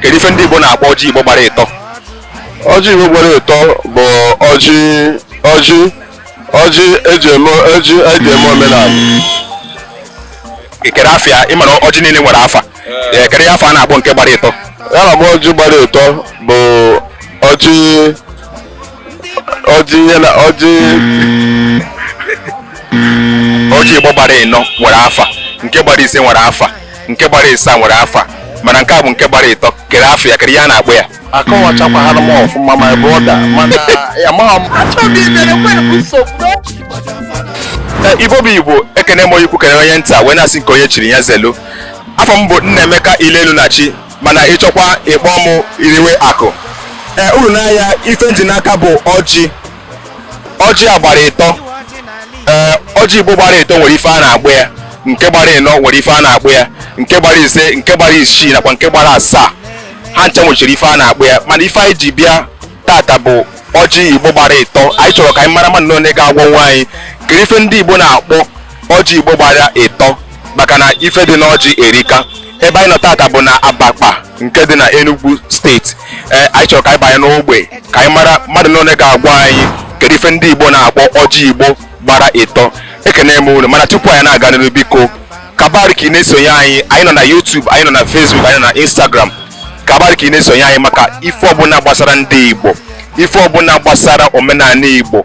kedu ife ndị Igbo na-akpọ ọjị Igbo gbara ịtọ ọjị Igbo gbara ịtọ bụ ọjị ọjị ọjị eji eme ọjị eji eme omenala kere afa ya ị mara ọjị niile nwere afa eh, kere ya afa a na-akpọ nke gbara ịtọ ya na ọjị gbara ịtọ bụ ọjị ọjị ihe na ọjị ọjị igbo gbara ịnọ nwere afa nke gbara ise nwere afa nke gbara ịsaa nwere afa mana nke a bụ nke gbara ịtọ kere afa ya kere ihe a na-akpọ ya akọwachakwahara m ọfụma my brother mana amaghị m achọghị imere nwere nsogbu Ee, igbo bụ igbo ekene m onye ukwu kene onye nta wee na-asị nke onye chiri ya zelu afa m bụ nnaemeka ilelu na chi mana ị chọkwa ịkpọ m iriwe akụ ee uru n'anya ife m ji n'aka bụ ọjị ọjị a gbara ịtọ ee ọjị igbo gbara ịtọ nwere ife a na-akpọ ya nke gbara ịnọ nwere ife a na-akpọ ya nke gbara ise nke gbara isii nakwa nke gbara asaa ha ncha nwechiri ife a na-akpọ ya mana ife anyị ji bịa tata bụ ọjị igbo gbara ịtọ anyị chọrọ ka anyị mara mmadụ na onye ga-agwanwu anyị kere ife ndị igbo na-akpọ ọjị igbo gbara ịtọ maka na ife dị n'ọjị erika ebe anyị nọ tata bụ na abakpa nke dị na enugu steeti ee anyị chọrọ ka anyị banye n'ogbe ka anyị mara mmadụ na ole ga-agwa anyị kedu ife ndị igbo na-akpọ ọjị igbo gbara ịtọ ekene m unu mana tupu anyị na-aga n'iru biko kabari ka ị na-esonye anyị anyị nọ na youtube anyị nọ na facebook anyị nọ na instagram kabari ka ị na-esonye anyị maka ife ọbụla gbasara ndị igbo ife ọbụla gbasara omenala igbo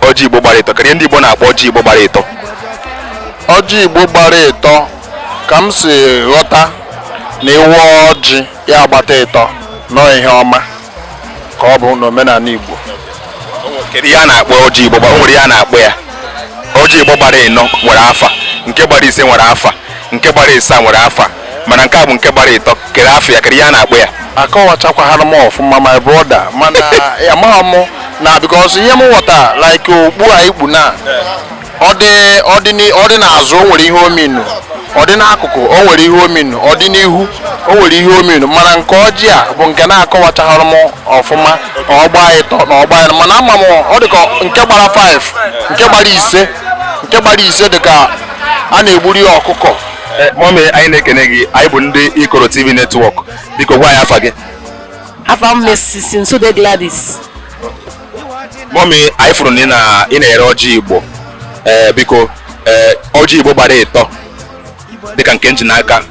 ọjị igbo gbara ịtọ kere ihe ndị igbo na-akpọ ọjị igbo gbara ịtọ ọjị igbo gbara ịtọ ka m si ghọta na ị waa ọjị ya agbata ịtọ na ihe ọma ka ọ bụ n'omenala igbo kedu ihe a na-akpọ ọjị igbo gbara o nwere ihe a na-akpọ ya ọjị igbo gbara ịnọ nwere afa nke gbara ise nwere afa nke gbara ịsaa nwere afa mana nke a bụ nke gbara ịtọ kere afa ya kere ihe a na-akpọ ya akọwachakwahara m ọfụma my brother mana amaghị m na because ihe m ghọta like okpu a ị kpu na ọ dị ọ dị n'i- ọ dị n'azụ o nwere ihe ọ mean ọ dị n'akụkụ o nwere ihe ọ mean ọ dị n'ihu o nwere ihe ọ mean mana nke ọjị a bụ nke na-akọwachaghara m ọfụma na ọ gbaa ịtọ na ọ gbaa ịnọ mana ama m ọ dị ka nke gbara 5 nke gbara ise nke gbara ise dị ka a na-egburu ya ọkụkọ eh, mummy anyị na-ekene gị anyị bụ ndị ikoro tv network biko gwa anyị afa gị afa m mrs nsude gladys mummy anyị fụrụ na ị na-ere ọjị igbo eh, biko eh, ọjị igbo gbara ịtọ dịka nke m ji n'aka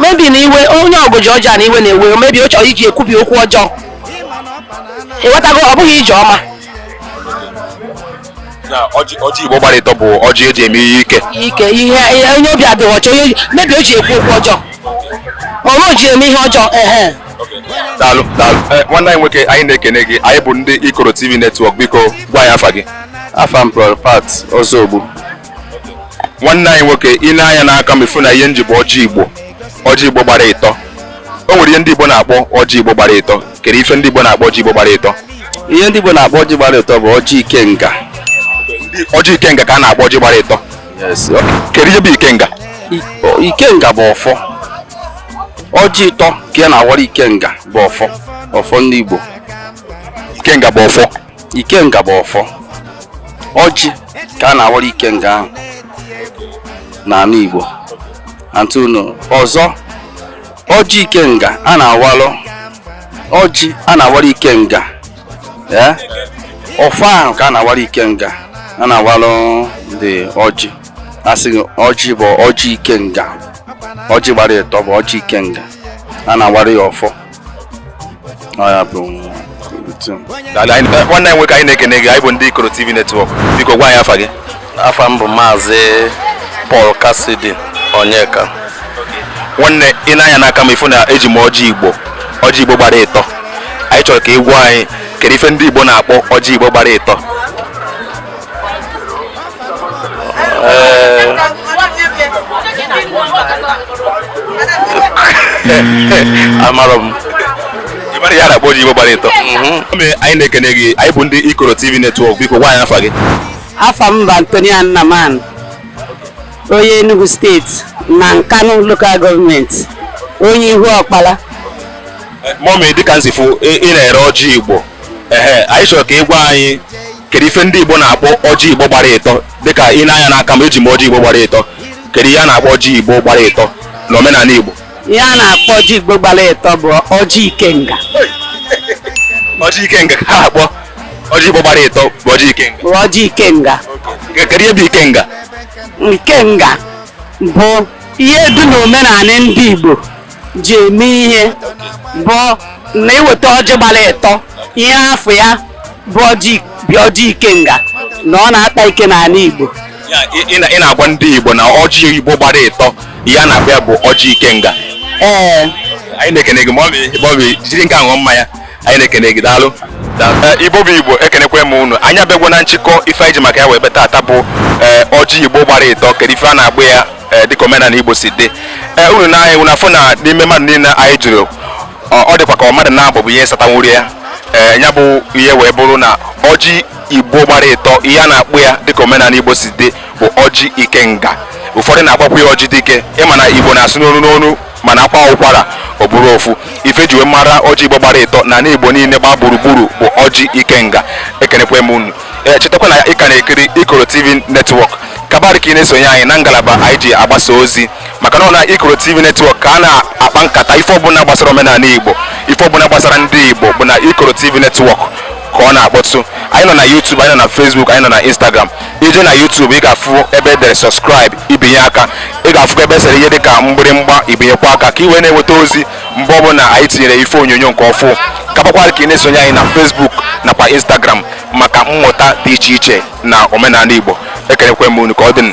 maybe na iwe onye ọgụ ji ọjọọ na iwe na-ewe maybe ọ chọrọ iji ekwubi okwu ọjọọ ịghọtago ọ bụghị ọjị ọma na ọjị ọjị igbo gbara ịtọ bụ ọjị eji eme ihe ike ike ihe ihe- onye obi adịghị ọcha onye oji- maybe o ji ekwu okwu ọjọọ ma ọ bụ o ji eme ihe ọjọọ ehe daalụ daalụ Eh, nwanne anyị nwoke anyị na-ekene gị anyị bụ ndị ikoro tv netwọk biko gwa anyị afa gị afa m bụ Pat Ozogbu nwanne anyị nwoke i nee anya n'aka m ị fụ na ihe m ji bụ ọjị igbo ọjị igbo gbara ịtọ o nwere ihe ndị igbo na-akpọ ọjị igbo gbara ịtọ kere ife ndị igbo na-akpọ ọjị igbo gbara ịtọ ihe ndị igbo na-akpọ ọjị gbara ịtọ bụ ọjị ikenga ọjị ikenga ka a na-akpọ ọjị gbara ịtọ kere ihe bụ ikenga ikenga bụ ọfọ ọjị ịtọ ka a na-awara ikenga bụ ọfọ ọfọ ndị igbo ikenga bụ ọfọ ikenga bụ ọfọ ọjị ka a na-awara ikenga ahụ n'anị Igbo antunu ọzọ ọjị ikenga a na-awalụ ọjị a na-awara ikenga ee ọfọ ahụ ka a na-awara ikenga a na-awalụ ụdị ọjị a sị ọjị bụ ọjị ikenga ọjị gbara ịtọ bụ ọjị ikenga a na-awara ya ọfọ nwanne nwoke anyị na-ekene gị anyị bụ ndị Ikoro TV Network biko gwa anyị afa gị afa m bụ maazị Paul Cassidy Onyeka nwanne i nee anya n'aka m ị fụ na eji m ọjị Igbo ọjị Igbo gbara ịtọ anyị chọrọ ka ị gwa anyị kedu ife ndị Igbo na-akpọ ọjị Igbo gbara ịtọ amarọ m ị marọ ihe a na-akpọ ọjị igbo gbara ịtọ Mọmi, anyị na-ekene gị anyị bụ ndị ikoro tv netwọk biko gwa anyị afa gị afa m bụ antonia nnaman onye enugu steeti na nkanu lokal gọọmenti onye Ihuokpara mọmi dịka m si fụ ị ị na-ere ọjị igbo ehe anyị chọrọ ka ị gwa anyị kedu ife ndị igbo na-akpọ ọjị igbo gbara ịtọ dịka i nee anya n'aka m eji m ọjị igbo gbara ịtọ kedu ihe a na-akpọ ọjị igbo gbara ịtọ na omenanị igbo ihe a na-akpọ ọjị igbo gbara ịtọ bụ ọjị ikenga ọjị ikenga ka a na-akpọ ọjị igbo gbara ịtọ bụ ọjị ikenga bụ ọjị ikenga kedu ihe bụ ikenga ikenga bụ ihe dị n'omenala ndị igbo ji eme ihe bụ na e weta ọjị gbara ịtọ ihe afa ya bụ ọjị bụ ọjị ikenga na ọ na-akpa ike n'ala Igbo Ya, ị- ị na- ị na-agwa ndị Igbo na ọjị Igbo gbara ịtọ ihe a na-akpọ ya bụ ọjị ikenga ee anyị na-ekene gị mọmi mọmi jiri nke a ṅụọ mmanya anyị na-ekene gị daalụ Ee, igbo bụ igbo ekenekwe m unu anyị abịagwo na nchịkọ ife anyị ji maka ya wee bịa taata bụ ee, ọjị igbo gbara ịtọ kedu ife a na-akpọ ya eh, dịka omenala Igbo si dị ee eh, unu na anyị na-afụ na n'ime mmadụ niile anyị jụrụ ọ dịkwa ka mmadụ naabọ bụ ihe satanwuru ya ee ya bụ ihe wee bụrụ na ọjị Igbo gbara ịtọ ihe a na-akpọ ya dịka omenala Igbo si dị bụ ọjị ikenga ụfọdụ na-akpọkwa ya ọjị dike ị ma na Igbo na-asụ n'onu n'onu mana a kwaa ụkwara ọ bụrụ ofu ife e ji wee mara ọjị igbo gbara ịtọ na anị igbo niile gbaa gburugburu bụ ọjị ikenga ekenekwe m unu ee chetakwa na ị ka na-ekiri ikoro tv netwọk kabarị ka ị na-esonye anyị na ngalaba anyị ji agbasa ozi maka na ọ na ikoro tv netwọk ka a na-akpa nkata ife ọbụla gbasara omenala igbo ife ọbụla gbasara ndị igbo bụ na ikoro tv netwọk ka ọ na-akpọtụ anyị nọ na YouTube anyị nọ na Facebook anyị nọ na Instagram i jee na YouTube ị ga-afụ ebe e dere subscribe i binye aka ị ga-afụkwa ebe e sere ihe dịka mgbịrịmgba i binyekwa aka ka ị wee na-enweta ozi mgbe ọbụla anyị tinyere ife onyonyo nke ọfụ kabakwara ka ị na-esonye anyị na Facebook nakwa Instagram maka mmụta dị iche iche na omenala Igbo ekenekwe m unu ka ọ dị